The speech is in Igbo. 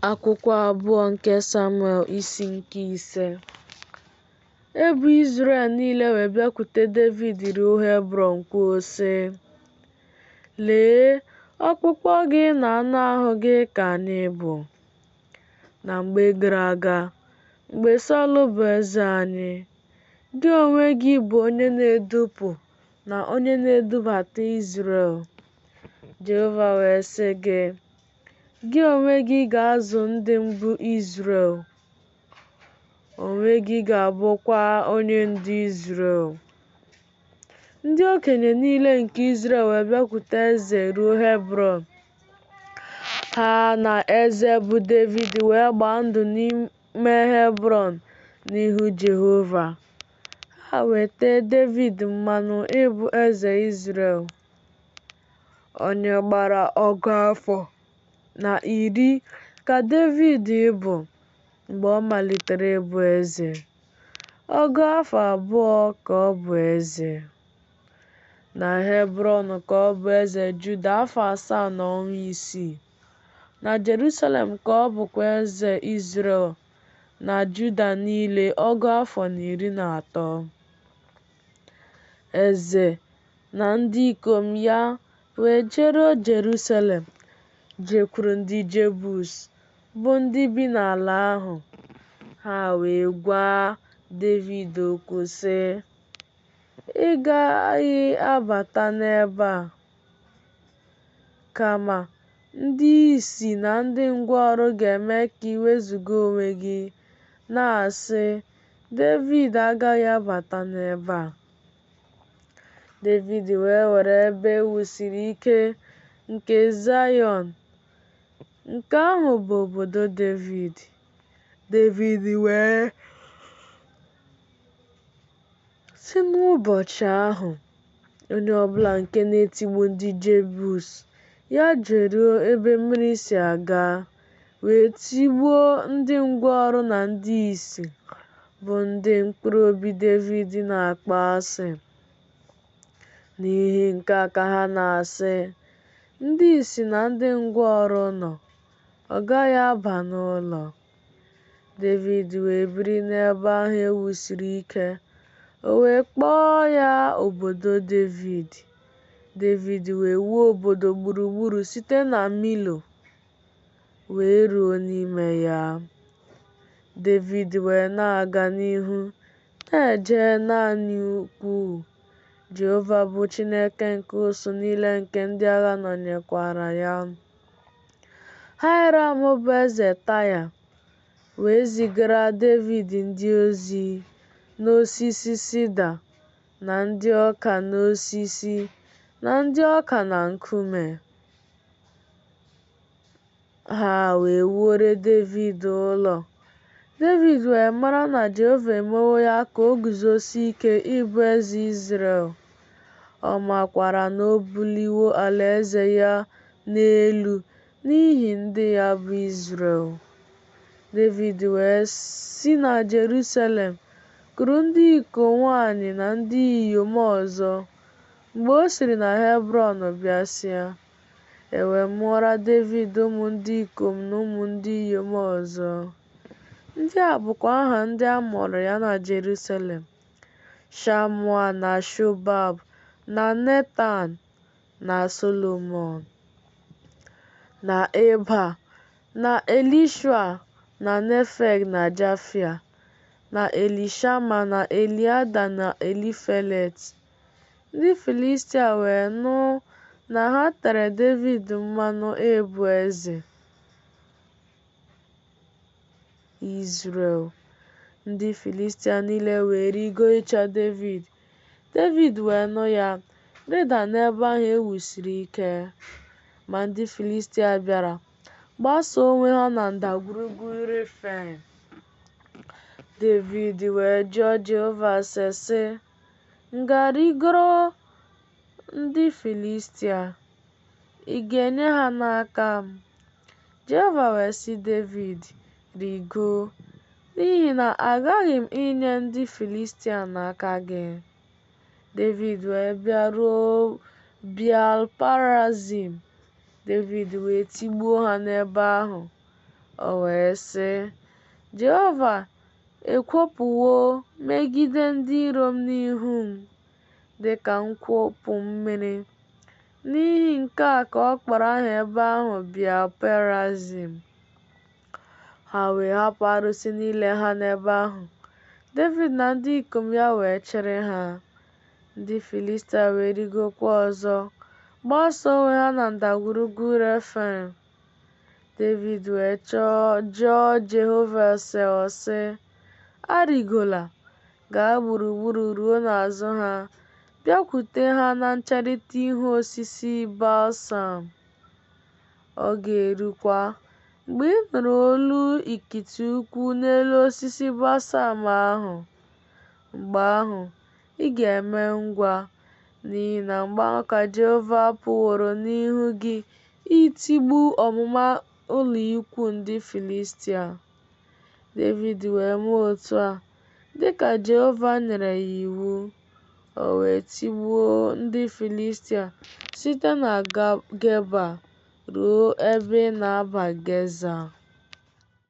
Akwụkwọ abụọ nke Samuel isi nke ise Ebo Izrel niile wee bịakwute Devid ruo Hebrọn kwuo sị, Lee, ọkpụkpụ gị na anụ ahụ gị ka anyị bụ. Na mgbe gara aga, mgbe Sọl bụ eze anyị, gị onwe gị bụ onye na-edupụ na onye na-edubata Izrel. Jehova wee sị gị, Gị onwe gị ga-azụ ndị m bụ Izrel, onwe gị ga-abụkwa onye ndu Izrel. Ndị okenye niile nke Izrel wee bịakwute eze ruo Hebrọn. Ha na eze bụ Devid wee gbaa ndụ n'ime Hebrọn n'ihu Jehova. Ha wee tee Devid mmanụ ịbụ eze Izrel. Onye gbara ọgụ afọ na iri ka Devid bụ mgbe ọ malitere ịbụ eze. Ọgụ afọ abụọ ka ọ bụ eze. Na Hebrọn ka ọ bụ eze Juda afọ asaa na ọnwa isii. Na Jerusalem ka ọ bụkwa eze Izrel na Juda niile ọgụ afọ na iri na atọ. Eze na ndị ikom ya wee jeruo Jerusalem, jekwuru ndị Jebus, bụ ndị bi n'ala ahụ. Ha wee gwa Devid okwu sị, Ị gaghị abata n'ebe a. Kama, ndị ìsì na ndị ngwọrọ ga-eme ka i wezuga onwe gị, na-asị, Devid agaghị abata n'ebe a. Devid wee were ebe e wusiri ike nke Zayọn. Nke ahụ bụ obodo Devid. Devid wee sị n'ụbọchị ahụ onye ọbụla nke na-etigbu ndị Jebus, ya jeruo ebe mmiri si aga. wee tigbuo ndị ngwọrọ na ndị ìsì, bụ ndị mkpụrụ obi Devid na-akpọ asị. N'ihi nke a ka ha na-asị, Ndị ìsì na ndị ngwọrọ nọ, ọ gaghị aba n'ụlọ. Devid wee biri n'ebe ahụ e wusiri ike, o wee kpọọ ya obodo Devid. Devid wee wuo obodo gburugburu site na Milo wee ruo n'ime ya. Devid wee na-aga n'ihu na-eje na-adị ukwu. Jehova bụ Chineke nke usuu niile nke ndị agha nọnyekwara ya. Haịram bụ eze Taya wee zigara Devid ndị ozi na osisi sida na ndị ọka n'osisi na ndị ọka na nkume. Ha wee wuore Devid ụlọ. Devid wee mara na Jehova emewo ya ka o guzosie ike ịbụ eze Izrel. Ọ makwara na o buliwo alaeze ya n'elu n'ihi ndị ya bụ Izrel. Devid wee si na Jerusalem kuru ndị iko nwanyị na ndị inyom ọzọ. Mgbe o siri na Hebrọn bịasịa, E wee mụọra Devid ụmụ ndị ikom na ụmụ ndị inyom ọzọ. Ndị a bụkwa aha ndị a mụrụ ya na Jerusalem, Shamua na Shobab na Netan na Solomọn na Ibha na Elishua na Nefeg na Jafia na Elishama na Eliada na Elifelet. Ndị Filistia wee nụ na ha tere Devid mmanụ ịbụ eze Izrel. Ndị Filistia niile wee rigo ịchọ Devid. Devid wee nụ ya, rịda n'ebe ahụ e wusiri ike. Ma ndị Filistia bịara gbasa onwe ha na ndagwurugwu Refaim. Devid wee jụọ Jehova ase, sị, M ga-arigoro ndị Filistia, ị ga-enye ha n'aka m? Jehova wee sị Devid, Rigoo, n'ihi na aghaghị m inye ndị Filistia n'aka gị. Devid wee bịaruo Beal-perazim, Devid wee tigbuo ha n'ebe ahụ. O wee sị, Jehova ekwopụwo megide ndị iro m n'ihu m dị ka nkwopụ mmiri. N'ihi nke a ka ọ kpọrọ aha ebe ahụ Beal-perazim. Ha wee hapụ arụsị niile ha n'ebe ahụ. Devid na ndị ikom ya wee chịrị ha. Ndị Filistia wee rigokwa ọzọ, gbasa onwe ha na ndagwurugwu Refaim. Devid wee chọọ jụọ Jehova ase ọ sị, Arịgola, gaa gburugburu ruo n'azụ ha, bịakwute ha na ncherịta ihu osisi balsam. Ọ ga-erukwa, mgbe ị nụrụ olu ikiti ụkwụ n'elu osisi balsam ahụ, mgbe ahụ ị ga-eme ngwa, n'ihi na mgbe ahụ ka Jehova pụworo n'ihu gị Itigbu ọmụma ụlọikwuu ndị Filistia. Devid wee mee otu a dị ka Jehova nyere ya iwu, o wee tigbuo ndị Filistia site na Geba ruo ebe ị na-aba Geza.